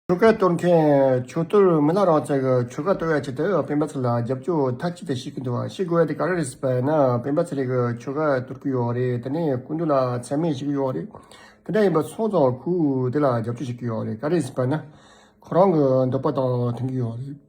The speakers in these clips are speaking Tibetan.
ཆོལ་ཁ་གཏོར་མཁན་ཆོལ་གཏོར་མི་སྣ་རང་ཚོས་ཆོལ་ཁ་གཏོར་བའི་ཆེད་དུ་སྤེན་པ་ཚེ་ལ་རྒྱབ་སྐྱོར་མཐའ་གཅིག་ཏུ་བྱེད་ཀྱི་འདུག་ཤི་དགོས་དེ་ག་རེ་རེད་ཟེར་བ་ཡིན་ན་སྤེན་པ་ཚེ་རིང་གིས་ཆོལ་ཁ་གཏོར་གི་ཡོད་རེད་དེ་ནས་སྐུ་མདུན་ལ་མཚན་སྨད་བྱེད་ཀྱི་ཡོད་རེད་དེ་འདྲ་ཡིན་པ་ཚོང་ཙང་ཁུལ་དེ་ལ་རྒྱབ་སྐྱོར་བྱེད་ཀྱི་ཡོད་རེད་ག་རེ་ཟེར་བ་ཡིན་ན་ཁོ་རང་གི་འདོད་པ་དང་མཐུན་གྱི་ཡོད་རེད།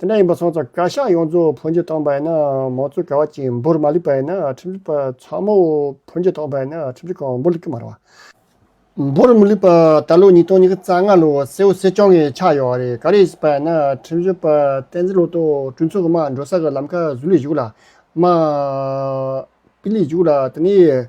དེ་འདྲ་ཡིན་པ་སོང་ཙང་བཀའ་ཤག་ཡོངས་རྫོགས་ཕོ་མཆོད་གཏོང་པ་ཡིན་ན་མང་གཙོའི་ག་བ་གཅིག་འབོར་མ་ལུས་པ་ཡིན་ན་ཁྲིམས་ཞིབ་པ་ཚང་མོ་ཕོ་མཆོད་གཏོང་པ་ཡིན་ན་ཁྲིམས་ཞིབ་ཁང་འབོར་ལུས་ཀྱི་མ་རེད་བ། འབོར་མི་ལུས་པ་ད་ལོ་ཉིས་སྟོང་ཉིས་བརྒྱ་རྩ་ལྔ་ལོ་སེ་འོ་སེ་སྐྱོང་གི་ཆགས་ཡོད་བ་རེད་ག་རེ་བྱས་པ་ཡིན་ན་ཁྲིམས་ཞིབ་པ་བསྟན་འཛིན་ལོ་ཏོག་སྤྲུལ་ཚོགས་ཀྱི་མ་འགྲོ་ས་གི་ལམ་ཁ་བཟོས་ལུས་བཞུགས་ལ་མ་སྤིས་ལུས་བཞུགས་ལ་དེ་ནས།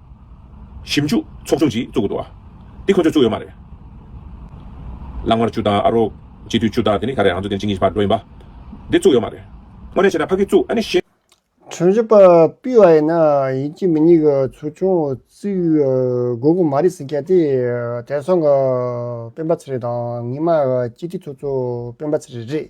ཞིབ་འཇུག་ཚོགས་ཆུང་ཞིག་བཙུགས་དགོས་འདུག་བ། འདི་ཁོ་ཚོས་བཙུགས་ཡོད་མ་རེད། གླང་དམར་ཆུ་བདག་ཨ་རོགས་སྤྱི་འཐུས་ཆུ་བདག་དེ་ནི་ད་རེས་རང་ཚོ་དེ་གཅིག་གཉིས་བར་འགྲོ་ཡིན་པ། འདི་བཙུགས་ཡོད་མ་རེད། དངོས་གནས་བྱས་ན་ཕ་གིས་བཙུགས་ཨ་ནི་ཤེས། གྲོས་གཞི་པ་པུས་བ་ཡིན་ན་ཡིན་གྱི་མི་གཉིས་ཀྱི་ཚོགས་ཆུང་བཙུགས་དགོས་གི་མ་རེད་ཟེར་མཁན་དེ་དེང་སང་གི་སྤེན་པ་ཚེ་རིང་དང་ངེད་མ་གཅིག་སྒྲིལ་ཚོགས་གཙོ་སྤེན་པ་ཚེ་རིང་རེད།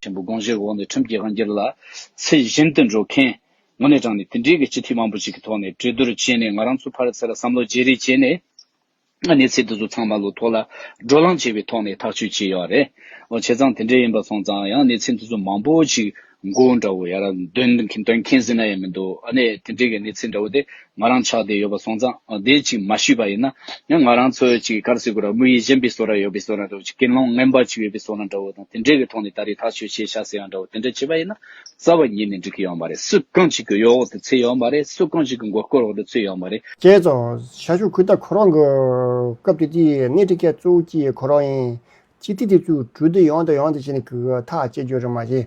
ཆེན་པོ་དགོངས་བཞེས་འོག་ནས་ཁྲིམས་ཀྱི་དབང་སྒྱུར་ལ་ཚད་གཞིར་དུ་འགྲོ་མཁན་ངོ་ནས་དྲངས་ནས་དེ་འབྲེལ་གྱི་སྤྱི་འཐུས་མང་པོ་ཞིག་གི་ཐོག་ནས་གྲོས་བསྡུར་བྱས་ནས་ང་རང་ཚོ་ཕར་ཚེ་ལ་བསམ་བློ་བརྗེ་རེས་བྱས་ནས་གནས་ཚད་འདི་ཚོ་ཚང་མ་ལོ་ཐོག་ལ་བགྲོ་གླང་བྱས་པའི་ཐོག་ནས་ཐག་གཅོད་བྱས་ཡོད་རེད། འོ་བྱས་ཙང་དེ་འདྲས་ཡིན་པ་སོང་ཙང་ཡང་གནས་ཚད་འདི་ཚོ་མང་པོ་ཞིག་མགོ་འདྲ་བོ་ཡར་འདོན་མཁན་ཟིན་ན་ཡང་མི་འདུག་ཨ་ནས་དེ་འདྲས་ཀྱི་གནས་ཚད་འདྲ་བོ་དེ་ང་རང་ཆགས་བསྡད་ཡོད་པ་སོང་ཙང་བསྡད་ཅིག་མ་ཞུས་པ་ཡིན་ན་ཡང་ང་རང་ཚོའི་ཅིག་ཀར་སི་ཀུ་ར་དམུ་ཡིས་བཞེངས་པའི་སོ་ར་ཡོད་པའི་སོ་ར་འདྲ་བོ་ཅིག་ཀེན་ལོང་རྔན་པ་ཅིག་ཡོད་པའི་སོ་ར་འདྲ་བོ་དང་དེ་འདྲའི་གི་ཐོག་ནས་ད་རེས་ཐག་ཆོད་བྱས་ཤག་ཟེར་ཡག་འདྲ་བོ་དེ་འདྲ་བྱས་པ་ཡིན་ན་རྩ་བ་ཉིད་ནས་འགྲིག་གི་ཡོད་མ་རེད་སུ་གང་ཞིག་གི་གཡོག་འོག་ཏུ་ཚུད་ཡོད་མ་རེད་སུ་གང་ཞིག་གི་མགོ་སྐོར་འོག་ཏུ་ཚུད་ཡོད་མ་རེད། བཅས་རྫོང་ཤ་ཤུག་ཁུལ་ལྟ་ཁོ་རང་གི་སྐབས་དེ་དུས་སྣེ་ཁྲིད་མཁན་གཙོ་བོ་ཀྱི་ཁོ་རང་ཡིན། སྤྱི་ཐི་དེ་ཚོའི་གྲུ་དེ་ཡོང་དང་ཡོང་དང་བྱས་ནས་གི་ཐག་བཅད་རྒྱུ་རེད་མ་བྱས།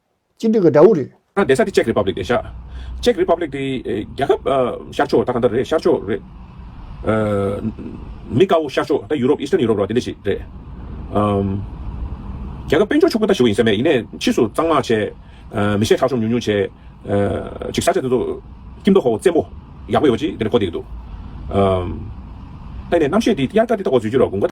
སྤྱི་འགྲོས་ཀྱི་དགྲ་བོ་རེད། ད་བསྡད་ས་དེ་ཅེཀ་རི་པབ་ལིག་རེད་ཤག། ཅེཀ་རི་པབ་ལིག་དེ་རྒྱལ་ཁབ། ཤར་ཕྱོགས་ད་ག་འདྲ་རེད་ཤར་ཕྱོགས་རེད། མི་དཀར་བོ་ཤར་ཕྱོགས་ད་ཡུ་རོབ Eastern Europe ར་དེ་འདྲ་ཞིག་རེད། རྒྱལ་ཁབ་དཔལ་འབྱོར་ཕྱུག་པོ་ད་ཞིག་ཡིན་ས་མེད་ཡིན་ནས་ཕྱིས་སུ་གཙང་མ་བྱས། མི་ཤེས་ཁྲག་ཤོམ་ཉུང་ཉུང་བྱས། ཅིག་ས་ཆ་དེ་ཚོ། སྐྱིབས་མདོག་ཧོ་བཙན་པོ། ཡག་པོ་ཡོ་ཅིག་དེ་འདྲ་གོ་བསྡད་ཀྱི་འདུག། ད་ཡིན་ནས་རྣམ་ཤེས་དེ་དབྱར་ཀ་དེ་ད་གོ་བཟོས་རྒྱུ་ར་དགུན་ཀ།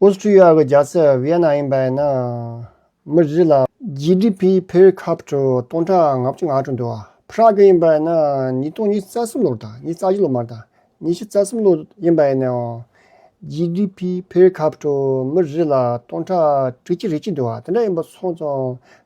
ཨོས་ཏྲི་ཡཱ་གི་རྒྱལ་སྲིད་བྷི་ཡེ་ན་ཡིན་པ་ཡིན་ན་མི་རིགས་ལ། ཇི་ཏི་པི་ཕེར་ཁ་བཅུ་སྟོང་ཕྲག་ང་བཅུ་ང་དྲུག་འདུ་བ་ཕ་རག་གི་ཡིན་པ་ཡིན་ན་ཉིས་སྟོང་ཉིས་རྩ་གསུམ་ལོར་དང་ཉིས་རྩ་བཞི་ལོ་མར་དང་ཉིས་བཞི་རྩ་གསུམ་ལོ་ཡིན་པ་ཡིན་ནའོ། ཇི་ཏི་པི་ཕེར་ཁ་བཅུ་མི་རིགས་ལ་སྟོང་ཕྲག་ཁྲི་གཅིག་རེ་གཅིག་འདུ་བ་དེ་འདྲ་ཡིན་པ་སོང་ཙང